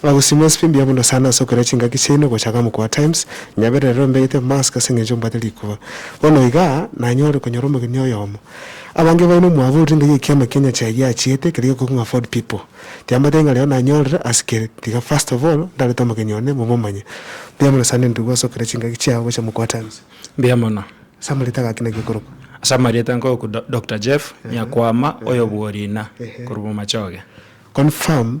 Nagosimwa SP mbuya mono sana ase okoira chingaki chiaino gocha ga mokoo wa Times, nyaberera rero mbegete mask ase engencho mbwate rikuba. Bono iga nanyore konyora omogeni oyomo. Abange baino mwabo orire ngai ekiama kia nyachae giachiete keria gekogwa ng'a Ford people. Tiambatebi ng'a rero nanyorire ase keri, tiga first of all ndarete omogeni one momomanye. Mbuya mono sana endugu ase okoira chingaki chiao gocha mokoo wa Times. Mbuya mono. Ase amarieta gaki naki okorokwa? Ase amarieta nkorokwa Do Doctor Jeff Nyakwama oyobuo Rina korwa Bomachoge. Confirm.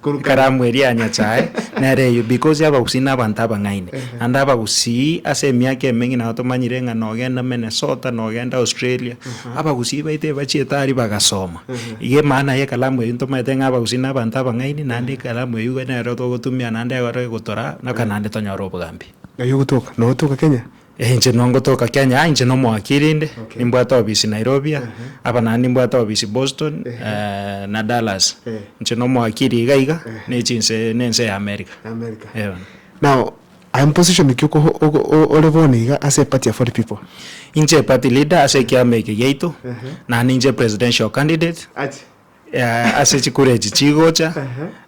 Korwa karamu eria ya Nyasae nere eyio, because abagusii nabanto abang'aini, naende abagusii ase emiaka emenge nabo tomanyire ng'a nogenda Minnesota, nogenda Australia, abagusii baito ebachiete aria bagasoma. Iga emaana ye kalamu eyio ntomanyete ng'a abagusii nabanto abang'aini, naende ekalamu eyio iga nero togotumia naende egoro egotoraa, mpaka naende tonyore obogambi. Naye ogotoka, notoka Kenya, Eh inche no ngotoka Kenya ah inche no mwaki rinde Okay. nimbwate obisi Nairobi ah Ehe. hapa naende nimbwate obisi Boston Ehe. eh, na Dallas Eh. inche no mwaki iri iga iga Ehe. ne chinse ne ense ya America America. Eh, bono. Now, I am position ki oko- oko- o- ore bono iga ase epati ya 40 people. inche party leader ase ekiama eke giaito Ehe. naende inche presidential candidate Ache. Eeh ase chikura echi chigocha,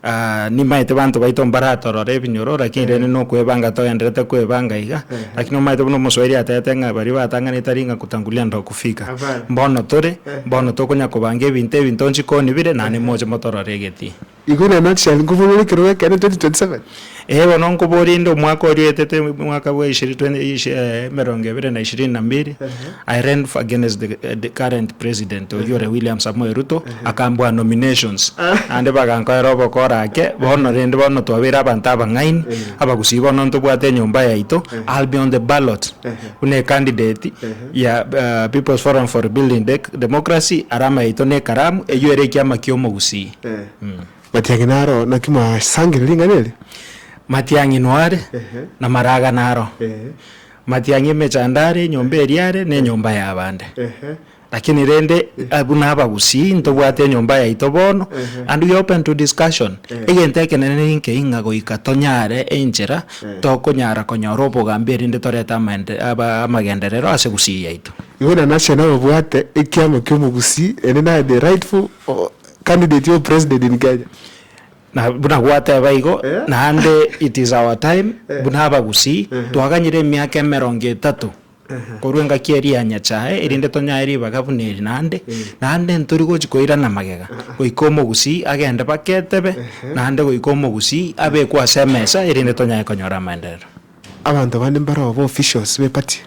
ah nimaete banto baito mbaratorore ebinyoro lakini rende nokwebanga togenderete kwebanga iga, lakini omaete buna omoswahiri atebete ng'a baria batang'anete ari ng'a kutangulia ndo kufika. Abare. Mbono tore, mbono tokonya kobanga ebinto ebi ntochi nkonibire, naende moche motorore egetii. Igo inee nonsi chiaye nkoboyore ekero gekende 2027. Ee, bono nkoborie, inde omwaka oria oetete, omwaka bwa ishiri- twen- ishi- eh, emerongo ebere na ishirini na mbiri, I ran f- against the, eh, the current president oyio ore William Samoei Ruto, akambua nominations, naende bagankorera obokora ake, bono rende bono twabeire abanto abang'aini, abagusii bono ntobwate enyomba yaito, I'll be on the ballot, buna ecandidate ya, eh, People's Forum for Rebuilding Dec- Democracy, alama yaito nekaramu, eyio ere ekiama kiomogusii. Matiang'i naro naki mwasangire ring'ana eri? Matiang'i nware namaraga naro. Matiang'i emechando are, enyomba eria are, nenyomba yabande. Lakini rende buna abagusii ntobwate enyomba yaito bono and we open to discussion. Egento ekenene ninkei ng'a goika tonyare enchera tokonyara konyora obogambi erinde torete amagenderero ase gusii yaito. Igo inanase nababwate ekiamo ki'omogusii ere naye the rightful Candidate o president in Kenya. Na buna gwateba igo naende it is our time buna abagusii twaganyire emiaka emerongo etato korwa engaki eria ya nyachae erinde tonyae ribaga buna eri naende naende ntori gochi koirana magega goika omogusii agende baka etebe naende goika omogusii abekwe ase emesa erinde tonyae konyora amaenderero. Abanto bande mbaroo ba officials be party.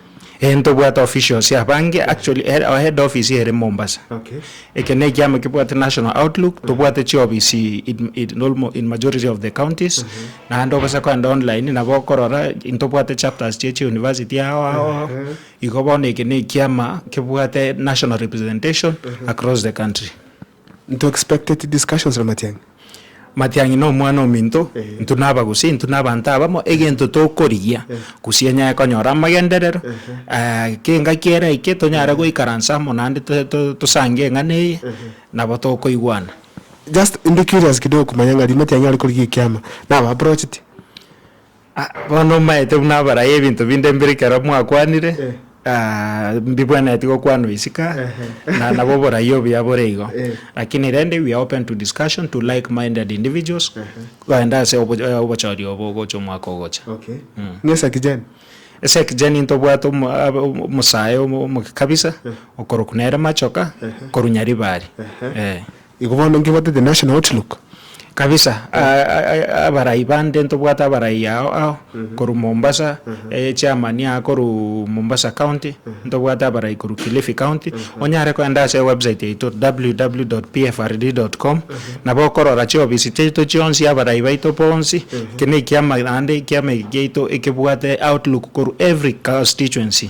Eeh ntobwate officials abange actually eh our head office ere Mombasa. Eke ne ekiama kebwate national outlook tobwate chi office in almo in majority of the counties naende obase kogenda online nabo okorora ntobwate chapters chie chi university ao ao ao igo bono eke ne ekiama kebwate national representation across the country. Into expected discussions na Matiang'i. Matiang'i na omwana ominto, intwe na abagusi, intwe na abanto abamo, egento tokorigia gusii enyare konyora amagenderero, gaki engaki ere aike tonyare goikaransa amo naende tosange eng'ana eye nabo tokoigwana. Just ndi curious kidogo komanya ng'a riria Matiang'i are korigia ekiama, naba approached? Ah, bono omaete buna abaraya ebinto binde mbire ekero mwakwanire, Eh. ah, mbibwenereti gokwanwa isiko, Ehe. na nabo oboraia obuya bore igo. Eh. Lakini rende we are open to discussion to like minded individuals, goenda ase obo- eh, obochori obo ogocha omwaka ogocha. Okay. Mm. Ng'esa kijani. Ase ekijani ntobwate omo- ab- omo- omosae omo- omoke kabisa, okorokwa nere machoka, korwa nyaribari. Ehe. Eh. Igo bono nkebwate the national outlook. Kabisa abarai bande ntobwate abarai ao ao korwa Mombasa chairman aa korwa Mombasa county ntobwate abarai korwa Kilifi county onyare koenda ase ewebsite yaito www.pfrd.com nabo okorora chiofisi chiaito chionsi abarai baito bonsi eki nekiama naende ekiama eki kiaito ekebwate outlook korwa every constituency.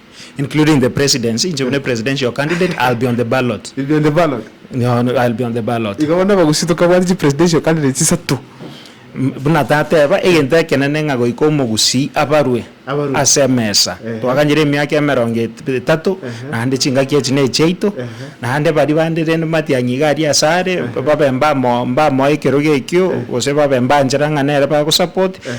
including the presidency, inche buna presidential candidate, I'll be on the ballot. You'll be on the ballot. Nyono, I'll be on the ballot. Iga bono abagusii tokabwate chi presidential candidates isato. M- Buna tateba, egento ekenene ng'a goika omogusii abarwe Abarwe. ase emesa. Ehe. Twaganyire emiaka emerongo et- etato, Ehe. naende chingaki echi nechiaito, Ehe. naende baria bande rende matiang'i iga aria ase are, babe mbamo- mbamoa ekerogo ekio, gose babe mbanchera ng'a nere bagosupport,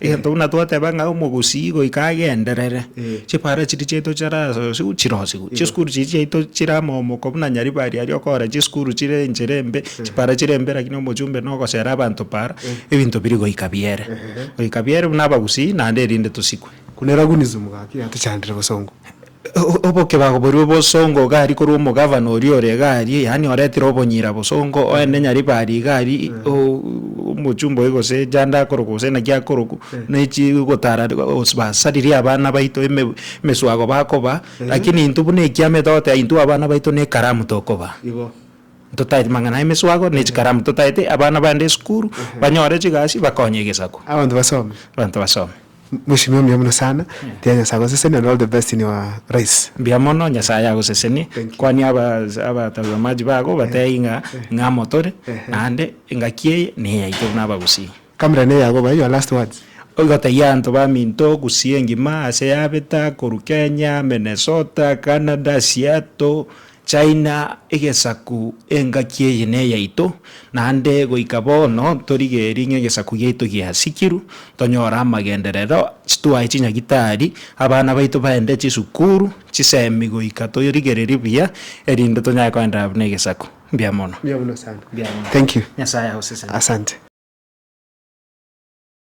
Egento buna twateba ng'a omogusii goika agenderere, chipara chiria chiaito chirasosigwe chirosigwe, chisukuru chiria chiaito chire amomoko buna Nyaribari aria okora chisukuru chire enchera embe, chipara chire embe lakini omochumbe nogosera abanto para, ebinto biri goika biere. Goika biere buna abagusii naende erinde tosikwe. Kuna eragunism gaki yatochandire bosongo. Oboke bagoborwe bosongo iga aria korwa omogavana oria ore iga aria, yaani oretire obonyira bosongo, oende Nyaribari iga aria, omochumba oye gose janda akorokwa gose naki akorokwa, ne chigotara gose basaririe abana baito eme emeswago bakoba, lakini intwe buna ekiama togote aye intwe abana baito na ekaramu tokoba. Totaeti mang'ana ya emeswago na echikaramu, totaeti abana baende esukuru, banyore chigasi bakonye egesaku. Abanto basome. Abanto basome. Mweshimiwa mbuya muno sana mbuya nyasaye agoseseni and all the best in your rise. Mbuya mono nyasaye agoseseni kwania abatazamaji bago bateyi ng'a ng'a amo tore naende engaki eye neyaito buna abagusii. Camera ne yago bae your last words. Ogotebia abanto baminto gusii engima ase yabeta korwa Kenya, Minnesota, Canada, Seattle. China egesaku engaki eye neyaito, naende goika bono ntorigerie ng'a egesaku giaito giasikirwe, tonyore amagenderero, twae chinyagitari, abana baito baende chisukuru, chisemi goika torigererie buya erinde tonyare koenderera buna egesaku. Mbuya mono. Mbuya mono sana. Mbuya mono. Thank you. Nyasae agoseseni. Asante.